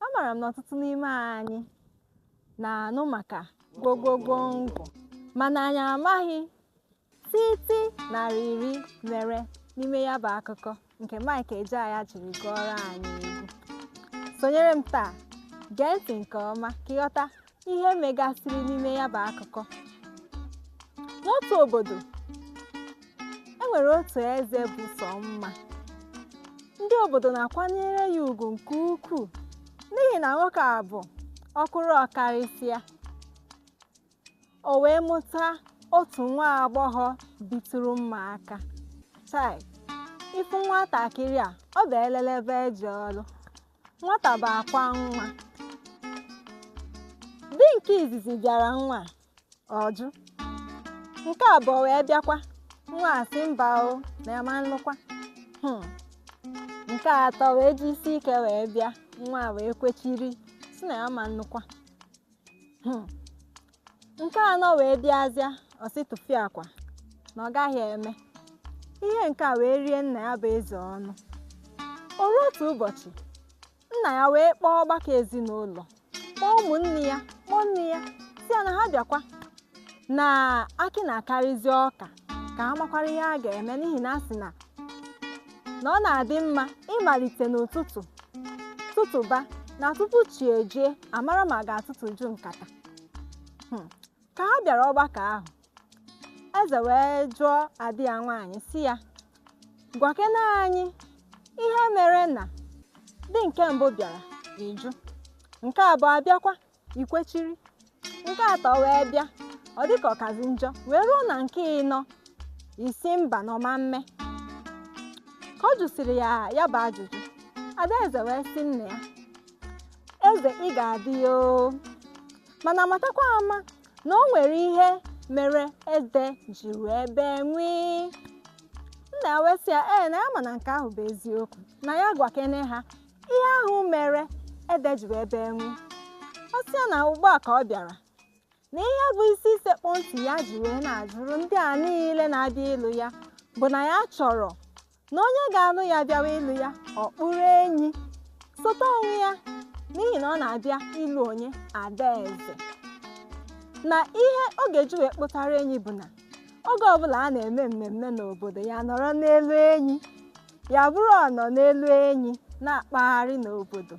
Amara m na ọtụtụ n'ime anyị na-anụ maka gwogwogwongwo mana anyị amaghị tịtị na rịrị mere n'ime ya bụ akụkọ nke Mike Ejeagha jiri gụọrọ anyị egwu. Sonyere m taa, gee ntị nke ọma ka ị ghọta ihe megasịrị n'ime ya bụ akụkọ n'otu obodo e nwere otu eze bụ sọ mma ndị obodo na-akwanyere ya ugwu nke ukwuu n'ihi na nwoke a bụ ọkụrụ ọkarịsịa o wee mụta otu nwa agbọghọ bitụrụ mma aka chai ị fụ nwatakịrị a ọ bụ elelebe eje ọrụ nwata bụ akwa nwa di nke izizi bịara nwa ọ jụ nke abụọ wee bịakwa nwa sị mba o na ya ma nlụkwa hmm. nke atọ wee ji isi ike wee bịa nwa wee kwechiri sị na ya ma nlụkwa Hmm. nke anọ wee bịazịa ọ sị tụfịakwa na ọ gaghị eme ihe nke a wee rie nna ya bụ eze ọnụ o ruo otu ụbọchị nna ya wee kpọọ ọgbakọ ezinụlọ kpọọ ụmụnne ya kpọọ nne ya sị ya na ha bịakwa na akị na-akarịzi ọka ka a makwara ihe a ga-eme n'ihi na a sị na na ọ na-adị mma ịmalite n'ụtụtụ tụtụba na tupu chi ejie a mara ma a ga-atụtụju nkata Hmm. ka ha bịara ọgbakọ ahụ eze wee jụọ ada ya nwaanyị sị ya gwakene anyị ihe mere na di nke mbụ bịara ị jụ nke abụọ abịakwa i kwechiri nke atọ wee bịa ọ dị ka ọ kazi njọ wee ruo na nke ịnọ ị sị mba na ọ ma mme ka ọ jụsịrị ya ya bụ ajụjụ adaeze wee sị nna ya eze ị ga-adị ya oo mana matakwa ama na o nwere ihe mere ede ji wee bee nwịị nna ya wee sị ya ee na ya ma na nke ahụ bụ eziokwu na ya gwakene ha ihe ahụ mere ede ji wee bee nwịị ọ sị ya na ugbu a ka ọ bịara na ihe bụ isi sekpụ ntị ya ji wee na-ajụrụ ndị a niile na-abịa ịlụ ya bụ na ya chọrọ na onye ga-alụ ya bịawa ịlụ ya ọ kpụrụ enyi sote onwe ya n'ihi na ọ na-abịa ịlụ onye adaeze na ihe ọ ga-eji wee kpụtara enyi bụ na oge ọbụla a na-eme mmemme n'obodo ya nọrọ n'elu enyi ya bụrụ ọ nọ n'elu enyi na-akpagharị n'obodo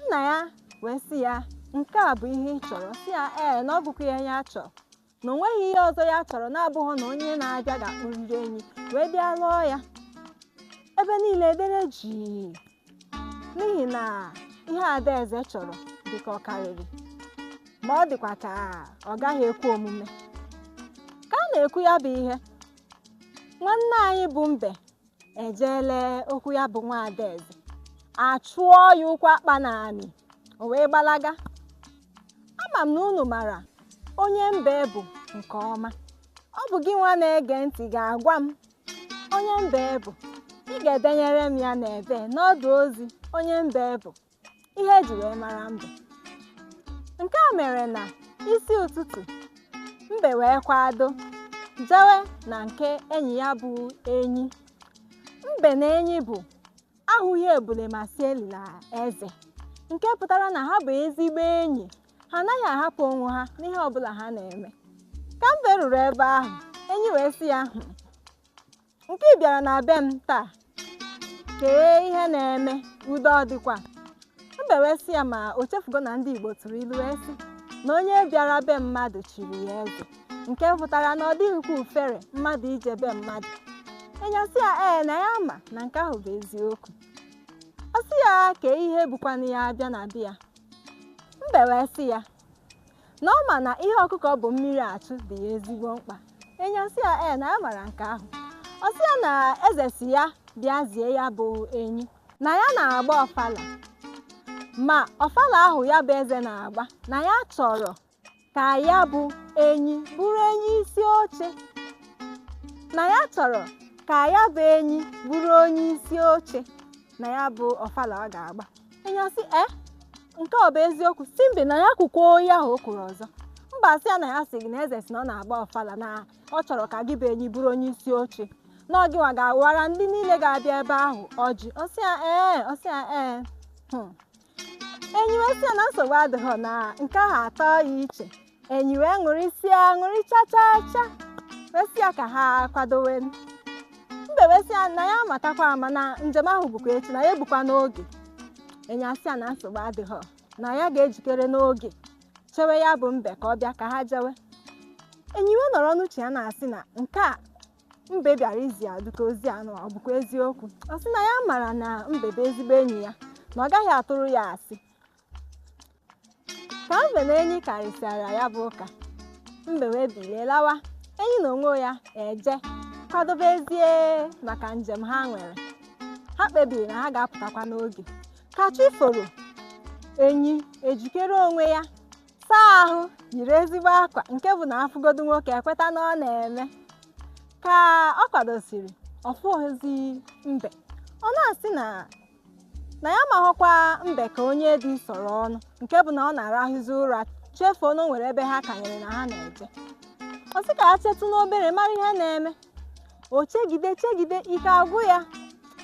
nna ya wee sị ya nke a bụ ihe ị chọrọ ọ sị ya ee na ọ bụkwa ihe ya chọrọ na o nweghị ihe ọzọ ya chọrọ na-abụghị na onye na-abịa ga-akpụrịrị enyi wee bịa lụọ ya ebe niile dere jii n'ihi na ihe adaeze chọrọ dị ka ọ karịrị ma ọ dịkwa ka ọ gaghị ekwe omume ka a na-ekwu ya bụ ihe nwanne anyị bụ mbe ejeele okwu ya bụ nwa adaeze achụọ ya ụkwụ akpa n'anị o wee gbalaga ama m na unu mara onye mbe bụ nke ọma ọ bụ gị nwa na-ege ntị ga-agwa m onye mbe bụ ị ga-edenyere m ya n'ebe n'ọdụ ozi onye mbe bụ ihe e ji wee mara mbe nke a mere na isi ụtụtụ mbe wee kwado jewe na nke enyi ya bụ enyi mbe na enyi bụ ahụghị ebule ma si elila eze nke pụtara na ha bụ ezigbo enyi ha anaghị ahapụ onwe ha n'ihe ọbụla ha na-eme ka mbe ruru ebe ahụ enyi wee sị ya "Hmm, nke ị bịara na be m taa kee ihe na-eme udo ọ dịkwa mbe wee sị ya ma o chefugo na ndị igbo tụrụ ilu wee sị na onye bịara be mmadụ chiri ya eze nke pụtara na ọ dịghịkwa ọfere mmadụ ije be mmadụ enyi asị ya ee na ya ma na nke ahụ bụ eziokwu ọ sị ya kee ihe bukwanụ ya bịa na be ya mbe wee sị ya na ọ ma na ihe ọkụkọ bu mmiri achụ dị ya ezigbo mkpa enyi asị ya ee na ya mara nke ahụ ọ sị ya na eze sị ya bịa zie ya bụ enyi na ya na-agba ọfala ma ọfala ahụ ya bụ eze na-agba na ya chọrọ ka ya bụ enyi bụrụ enyi isi oche na ya chọrọ ka ya bụ enyi bụrụ onye isi oche na ya bụ ọfala ọ ga-agba enyi asị e eh, nke ọ bụ eziokwu sị mbe na ya kwukwoo ihe ahụ o kwuru ọzọ mbe asị ya na ya sị gị na eze sị na ọ na-agba ọfala na ọ chọrọ ka gị bụ enyi bụrụ onye isi oche na ọ gịnwa ga-awara ndị niile ga-abịa ebe ahụ ọjị ọ sị ya ee eh, ọ sị ya ee eh. hmm. enyi wee sị ya na nsogbu adịghị na nke ahụ atọ ya iche enyi wee ṅụrịsịa ṅụrị cha cha cha wee sị ya ka ha kwadowe mbe wee sị ya na ya amatakwa ama na njem ahụ bụkwa echi na ya abụkwa n'oge enyi asị ya na nsogbu adịghị na ya ga-ejikere n'oge chewe ya bụ mbe ka ọ bịa ka ha jewe enyi wee nọrọ n'uche ya na-asị na nke a mbe bịara izi ya dị ka ozi anụ ọ bụkwa eziokwu ọ sị na ya mara na mbe bụ ezigbo enyi ya na ọ gaghị atụrụ ya asị ka mbe na enyi karịsịara ya bụ ụka mbe wee bilie lawa enyi n'onwe ya ejee kwadobe ezie maka njem ha nwere ha kpebiri na ha ga-apụtakwa n'oge ka chi foro enyi ejikere onwe ya saa ahụ yiri ezigbo akwa nke bụ na afụgodu nwoke ekweta na ọ na-eme ka ọ kwadosiri ọ fụghọzi mbe ọ na-asị na na ya amaghọkwa mbe ka onye dị sọrọ ọnụ nke bụ na ọ na-arahụzi ụra chefuo na o nwere ebe ha kanyere na ha na-eje ọ sị ka ya chetụ n'obere mara ihe na-eme o chegide chegide ike agwụ ya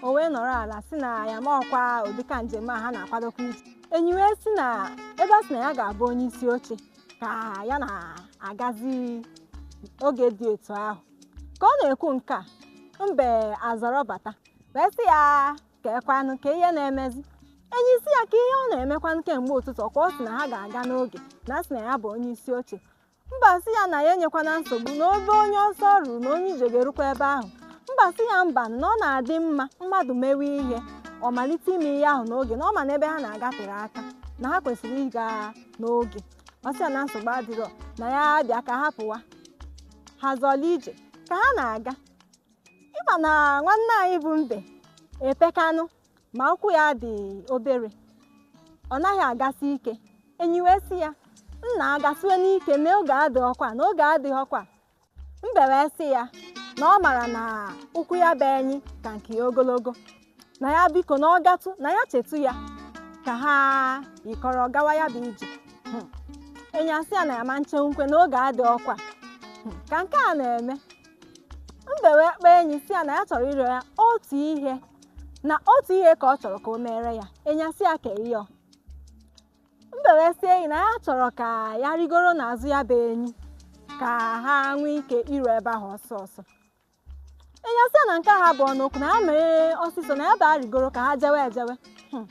o wee nọrọ ala sị na ya amaghọkwa ụdịka njem a ha na-akwadokwa ije enyi wee sị na ebe a sị na ya ga-abụ onye isi oche ka ya na-agazi oge dị etu ahụ ka ọ na-ekwu nke a mbe azọrọ bata wee sị ya kee kwanụ kee ihe na-emezi enyi sị ya kee ihe ọ na-emekwanụ kemgbe ụtụtụ ọkwa ọ sị na ha ga-aga n'oge na a sị na ya bụ onye isi oche mbe asị ya na ya enyekwana nsogbu na ebe onye ọsọ ruru na onye ije ga-erukwa ebe ahụ mbe asị ya mba na ọ na-adị mma mmadụ mewe ihe ọ malite ime ihe ahụ n'oge na ọ ma na ebe ha na-aga tere aka na ha kwesịrị ịga n'oge ọ sị ya na nsogbu adịrọ na ya bịa ka ha pụwa ha zọla ije ka ha na-aga ị ma na nwanne anyị bụ mbe epekanụ ma ụkwụ ya dị obere ọ naghị agasị ike enyi wee sị ya nna agasịwe n'ike na oge adịghọkwa na oge adịghọkwa mbe wee sị ya na ọ mara na ụkwụ ya bụ enyi ka nke ya ogologo na ya biko na ọ gatụ na ya chetụ ya ka ha yikọrọ gawa ya bụ ije Hmm. enyi asị ya na ya ma nche nkwe na oge adịghọkwa Hmm. ka nke a na-eme mbe wee kpọọ enyi sị ya na ya chọrọ ịrịọ ya otu ihe na otu ihe ka ọ chọrọ ka o meere ya enyi asị ya kee ihe mbe wee sị enyi na ya chọrọ ka ya rigoro n'azụ ya bụ enyi ka ha nwee ike iru ebe ahụ ọsọ ọsọ enyi asị ya na nke ahụ abụghọnụ okwu na ya mee ọsịsọ na ya bịa rigoro ka ha jewe ejewe Hmm.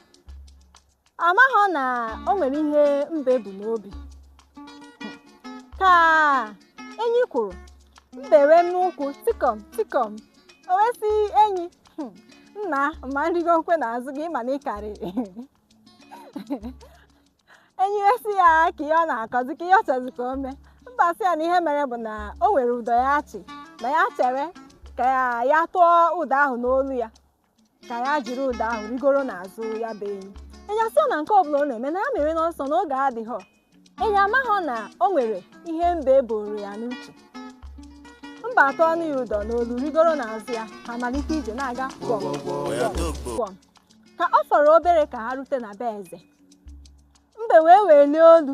ọ maghọ na o nwere ihe mbe bu n'obi ka enyi kwụrụ mbe wee n'ụkwụ tikọm tikọm o wee sị enyi "Hmm, nna ma nrigo nkwe n'azụ gị ma na ị karịrị enyi wee sị ya kee ihe ọ na-akọzi kee ihe ọ chọzi ka o mee mbe asị ya na ihe mere bụ na o nwere ụdọ ya chị na ya chere ka ya tụọ ụdọ ahụ n'olu ya ka ya jiri ụdọ ahụ rigoro n'azụ ya bụ enyi enyi asị ya na nke ọbụla ọ na-eme na ya mewe n'ọsọ na oge adịghọ enyi amaghọ na o nwere ihe mbe buuru ya n'uche mbe atụọnụ ya ụdọ n'olu rigoro n'azụ ya ha malite ije na-aga gwọm gwọm ka ọ fọrọ obere ka ha rute na be eze mbe wee welie olu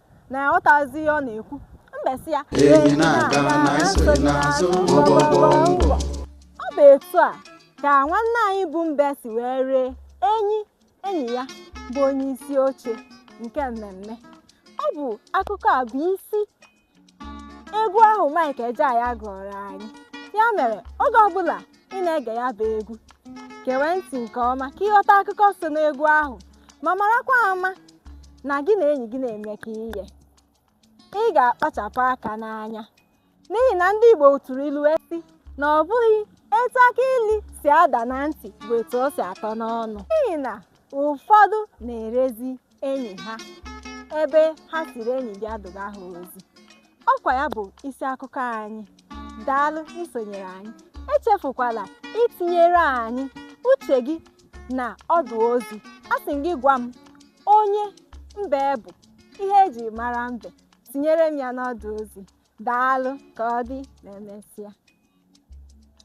na ya ghọtazi ihe ọ na-ekwu mbe sị ya Enyi na-aga na e so gị n'azụ gwo gwo gwo ngwo. ọ bụ etu a ka nwanne anyị bụ mbe si wee ree enyi enyi ya bụ onye isi oche nke mmemme ọ bụ akụkọ a bụ isi egwu ahụ Mike Ejeagha gụọrọ anyị ya mere oge ọbụla ị na-ege ya bụ egwu gewe ntị nke ọma ka ị ghọta akụkọ so n'egwu ahụ ma marakwa ama na gị na enyi gị na-emekọ ihe ị ga-akpachapụ aka n'anya n'ihi na ndị Igbo tụrụ ilu wee sị na ọ bụghị etu akị ilu si ada na ntị bụ etu o si atọ n'ọnụ n'ihi na ụfọdụ na-erezi enyi ha ebe ha sịrị enyi bịa duga ha ozi ọkwa ya bụ isi akụkọ anyị daalụ isonyere anyị echefukwala itinyere anyị uche gị na ọdụ ozi asị m gị gwa m onye mbe bụ ihe eji mara mbe tinyere m ya n'ọdụ ozi daalụ ka ọ dị ma emesịa